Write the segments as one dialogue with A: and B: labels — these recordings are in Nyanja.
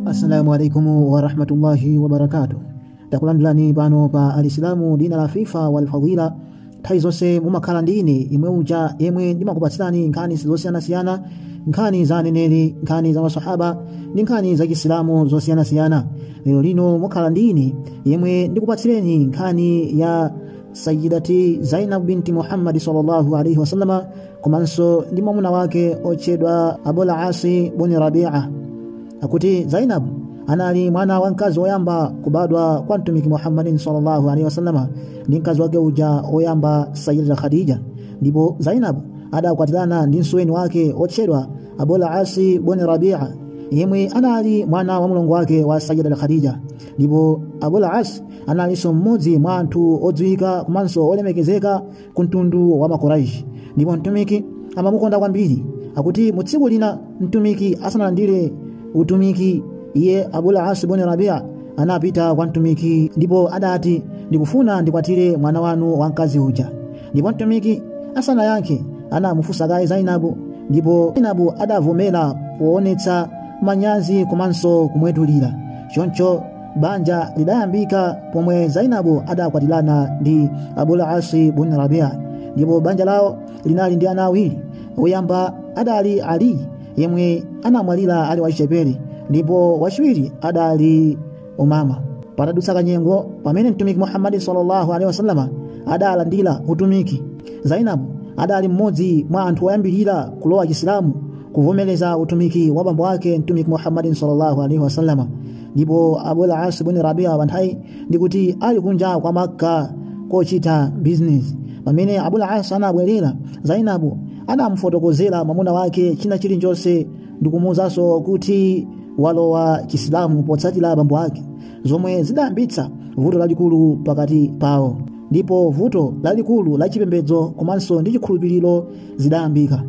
A: assalamu alaikum warahmatullahi wabarakatuh takulandirani pano pa al isilamu dinul afifa wal fadila nthawi zonse mumakhala ndi ine imwe uja yemwe ndimakupatsirani nkhani zosiyanasiyana nkhani za aneneri nkhani za masahaba ndi nkhani za chisilamu zosiyanasiyana lero lino mukhala ndi ine yemwe ndikupatsireni nkhani ya sayidati zainab binti muhammadi sallallahu alaihi wasallama komanso ndi mwamuna wake otchedwa abul asi buni rabia akuti zainab anali mwana wamkazi woyamba kubadwa kwa mtumiki muhammadin sallallahu alaihi wasallama ndi mkazi wake uja woyamba sayida khadija ndipo zainab adakwatirana ndi msuweni wake otchedwa abul asi buni rabia yemwe anali mwana wa mulongo wake wa sayida khadija ndipo abul as analinso mmodzi mwa anthu odziwika komanso olemekezeka ku mtundu wa makuraishi ndipo mtumiki amamukonda kwambiri akuti mu tsiku lina mtumiki asanalandire utumiki iye abul asi buni rabia anapita kwa mtumiki ndipo adati ndikufuna ndikwatire mwana wanu wamkazi uja ndipo mtumiki asanayankhe anamufunsa kaye zainabu ndipo zainabu adavomera poonetsa manyazi komanso kumwetulira choncho banja lidayambika pomwe zainabu adakwatirana ndi abul asi bun rabia ndipo banja lawo linali ndi ana awiri woyamba adali ali yemwe anamwalira ali wachichepere ndipo wachiwiri adali umama patadutsa kanyengo pamene mtumiki muhammadi sallallahu alaihi wasallama adalandira utumiki zainabu adali mmodzi mwa anthu oyambirira kulowa chisilamu kuvomereza utumiki wa bambo wake mtumiki muhammadi sallallahu alaihi wasallama ndipo abul as bun rabia panthawiyi ndi kuti ali kunja kwa makka kochita bizinesi pamene abul as anabwerera zainabu anamufotokozera mwamuna wake china chilichonse ndikumuwuzanso kuti walowa chisilamu potsatira bambo ake zomwe zidayambitsa vuto lalikulu pakati pawo ndipo vuto lalikulu la chipembedzo komanso ndi chikhulupiriro zidayambika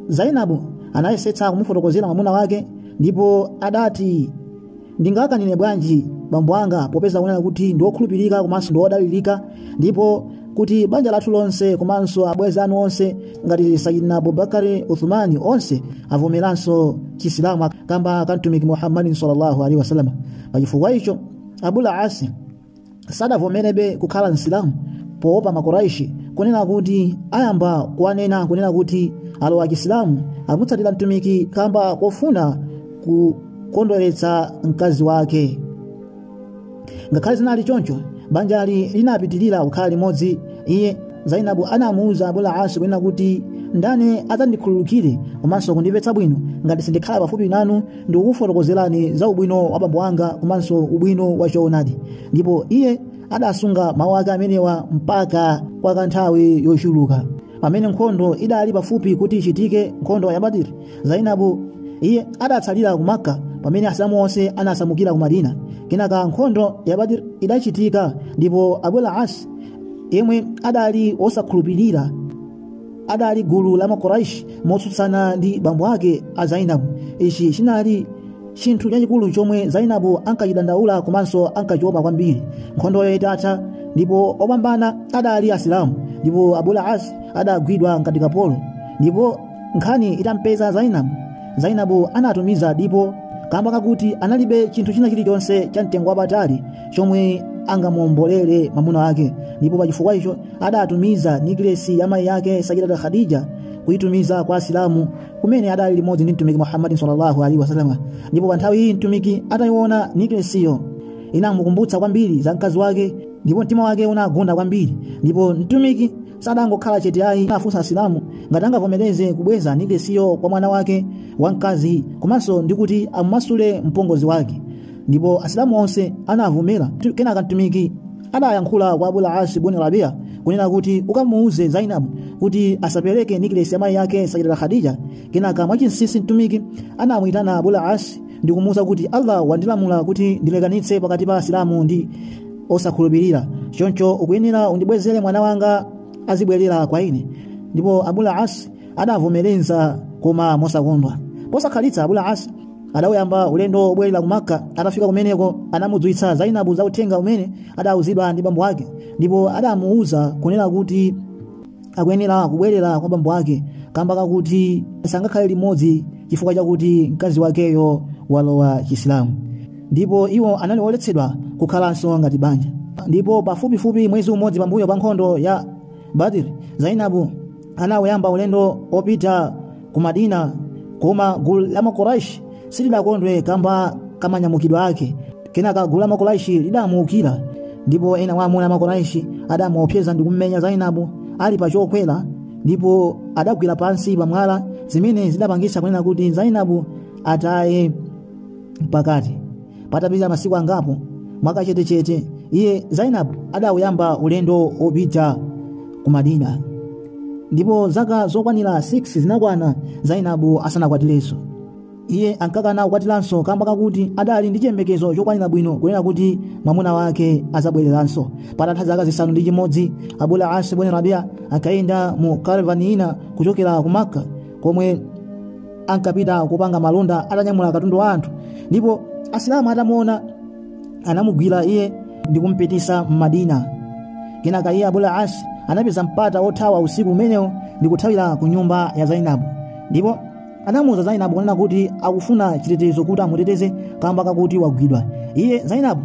A: zainabu anayesetsa kumufotokozera mwamuna wake ndipo adati ndingakanine bwanji bambo anga popeza kunena kuti ndi wokhulupirika komanso ndi wodalirika ndipo kuti banja lathu lonse komanso abwenzi anu onse ngati sayidina abubakari uthumani onse avomeranso chisilamu kamba ka mtumiki muhammadi sallallahu alaihi wasallam pachifukwa icho abul asi sadavomerebe kukhala msilamu poopa makoraishi kunena kuti ayamba kuwanena kunena kuti alowa chisilamu amutsatira mtumiki kamba kofuna kukondweretsa mkazi wake ngakhale zinali choncho banjali linapitirira kukhala limodzi iye zainabu anamuwuza abul asi kunena kuti ndani adzandikhululukire komanso kundimvetsa bwino ngati sindikhala pafupi nanu ndikukufotokozerani za ubwino wa bambo anga komanso ubwino wa choonadi ndipo iye adasunga mawu ake amenewa mpaka kwa kanthawi yochuluka pamene nkhondo idali pafupi kuti ichitike nkhondo ya badir zainabu iye adatsalira ku makka pamene asilamu onse anasamukira ku madina kenaka nkhondo ya badir idachitika ndipo abul asi yemwe adali wosakhulupirira adali gulu la makuraishi motsutsana ndi bambo ake a zainabu ichi chinali chinthu chachikulu chomwe zainabu ankachidandaula komanso ankachiopa kwambiri nkhondoyo itatha ndipo opambana adali asilamu ndipo abul asi adagwidwa ngati kapolo ndipo nkhani itampeza zainabu zainabu anatumiza dipo kamba kakuti analibe chinthu china chilichonse cha mtengo wapatali chomwe angamuombolere mwamuna wake ndipo pachifukwa icho adatumiza niklesi ya mayi yake sayidata khadija kuitumiza kwa asilamu kumene adali limodzi ndi mtumiki muhammadi sallallahu alaihi wasallam ndipo pa nthawi iyi mtumiki atayiona niklesiyo inamukumbutsa kwambiri za mkazi wake ndipo mtima wake unagunda kwambiri ndipo mtumiki sadangokhala chete ayi anafunsa asilamu ngati angavomereze kubweza niklesiyo kwa mwana wake wamkazi komanso ndikuti amumasule mpongozi wake ndipo asilamu onse anavomera kenaka mtumiki adayankhula kwa abul asi bun rabia kunena kuti ukamuuze zainabu kuti asapereke niklesi ya mayi yake sayidata khadija kenaka mwachinsisi mtumiki anamuyitana abul asi ndi kumuuza kuti allah wandilamula kuti ndilekanitse pakati pa asilamu ndi osakhulupirira choncho ukuyenera undibwezere mwana wanga azibwerera kwa ine ndipo abul asi adavomereza koma mosakondwa posakhalitsa abul asi adawuyamba ulendo wobwerera ku makka atafika kumeneko anamudziwitsa zainabu za uthenga umene adawuzidwa ndi bambo ake ndipo adamuwuza kunena kuti akuyenera kubwerera kwa bambo wake kamba kakuti sangakhale limodzi chifukwa chakuti mkazi wakeyo walowa chisilamu ndipo iwo anali oletsedwa kukhalanso ngati banja ndipo pafupifupi mwezi umodzi pambuyo pa nkhondo ya badiri zainabu anawuyamba ulendo opita ku madina koma gulu la makuraishi silidakondwe kamba ka manyamukidwe ake kenaka gulu la makuraishi lidamuukira ndipo ena wa amuna a makuraishi adamuopseza ndi kummenya zainabu ali pa chokwera ndipo adagwera pansi pamwala zimene zidapangisa kunena kuti zainabu ataye pakati patapita masiku angapo mwakachetechete iye zainabu adawuyamba ulendo wopita ku madina ndipo zaka zokwanira 6 zinakwana zainabu asanakwatirenso iye ankakana kukwatiranso kamba kakuti adali ndi chiyembekezo chokwanira bwino kunena kuti mwamuna wake azabwereranso patatha zaka zisanu ndi chimodzi abul asi bun rabia akayenda mu karavani ina kuchokera ku makka komwe ankapita kupanga malonda atanyamula katundu wa anthu ndipo asilamu atamuona anamugwira iye ndi kumpitisa m'madina kenaka iye abul as anapeza mpata wothawa usiku umenewo ndi kuthawira ku nyumba ya zainabu ndipo anamuuza zainabu kunena kuti akufuna chitetezo kuti amuteteze kamba kakuti wagwidwa iye zainabu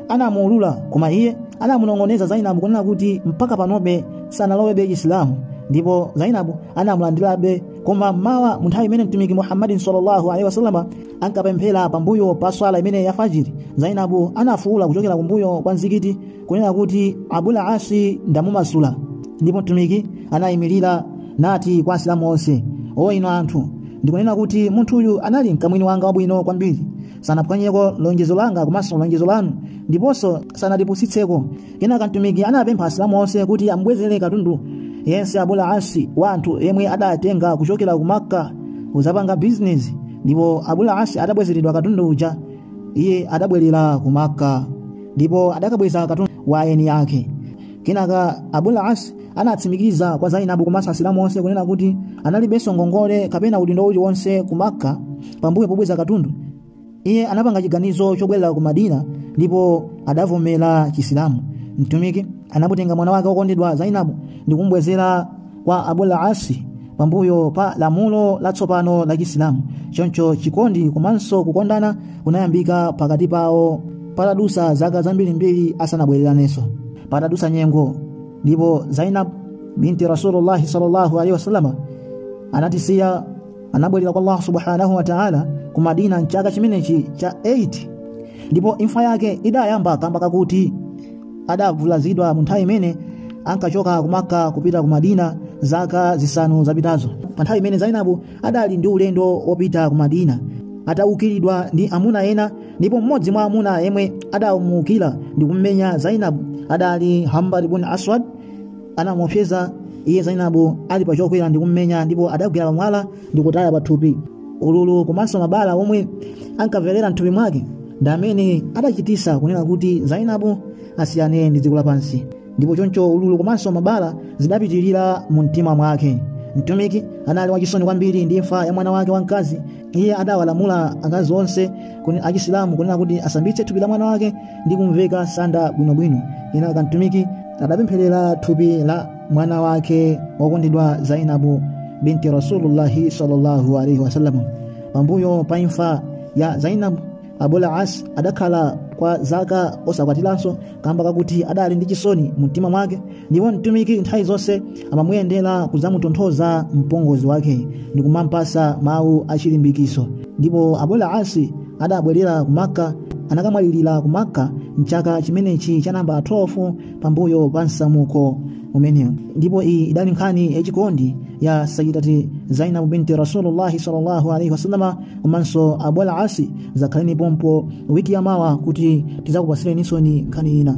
A: anamulola koma iye anamunong'oneza zainabu kunena kuti mpaka panobe sanalowebe isilamu ndipo zainabu anamulandirabe koma mmawa munthawi imene mtumiki muhammadi sallallahu alaihi wasallam ankapemphera pambuyo pa swala imene ya fajiri zainabu anafuula kuchokera kumbuyo kwa mzikiti kunena kuti abul asi ndamumasula ndipo mtumiki anayimirira nati kwa asilamu onse o inu anthu ndikunena kuti munthuyu anali mkamwini wanga wabwino kwambiri sanaphwanyeko lonjezo langa komanso lonjezo lanu ndiponso sanatipusitseko kenaka mtumiki anapempha asilamu onse kuti amubwezere katundu yense abul asi wa anthu yemwe adatenga kuchokera ku makka kuzapanga bizinesi ndipo abul asi adabwezeredwa katundu uja iye adabwerera ku makka ndipo adakabweza katundu wa eni yake kenaka abul asi anatsimikiza kwa zainabu komanso asilamu onse kunena kuti analibenso ngongole kapena udindo uliwonse ku makka pambuyo pobweza katundu iye anapanga chiganizo chobwerera ku madina ndipo adavomera chisilamu mtumiki anamutenga mwana wake wokondedwa zainabu ndi kumubwezera kwa abul asi pambuyo pa lamulo latsopano la chisilamu choncho chikondi komanso kukondana kunayambika pakati pawo patadusa zaka zambirimbiri asanabwereranenso patadusa nyengo ndipo zainab binti rasulullahi sallallahu alaihi wasallam anatisiya anabwerera kwa allah subhanahu wa taala ku madina mchaka chimenechi cha 8 ndipo imfa yake idayamba kamba kakuti adavulazidwa mu nthawi imene ankachoka ku makka kupita ku madina zaka zisanu zapitazo pa nthawi imene zainabu adali ndi ulendo wopita ku madina ataukiridwa ndi amuna ena ndipo mmodzi mwa amuna yemwe adamuukira ndi kummenya zainabu adali habbar bun aswad anamuopseza iye zainabu ali pa chokwera ndi kummenya ndipo adagwera pamwala ndi kutaya pathupi ululu komanso mabala omwe ankamverera mthupi mwake ndi amene adachitisa kunena kuti zainabu asiyane ndi dziko lapansi ndipo choncho ululu komanso mabala zidapitirira mu mtima mwake mtumiki anali wachisoni kwambiri ndi imfa ya mwana wake wamkazi iye adawalamula akazi onse achisilamu kunena kuti asambitse thupi la mwana wake ndi kumveka sanda bwinobwino kenaka mtumiki adapempherera thupi la mwana wake wokondedwa zainabu binti rasulullahi sallallahu alaihi wasallam pambuyo pa imfa ya zainabu abul as adakhala kwa zaka osakwatiranso kamba kakuti adali ndi chisoni mumtima mwake ndipo mtumiki nthawi zonse amamuyendera kudzamutonthoza mpongozi wake ndi kumampasa mawu achilimbikiso ndipo abul as adabwerera ku makka anakamwalirira ku makka mchaka chimenechi cha namba 12 pambuyo pa msamuko umenewo ndipo iyi idali nkhani yachikondi ya sayyidati zainabu binti rasulullahi sallallahu alaihi wasallam komanso abul as zakhaleni pompo wiki yamawa kuti tizakupatsireninso nkhani ina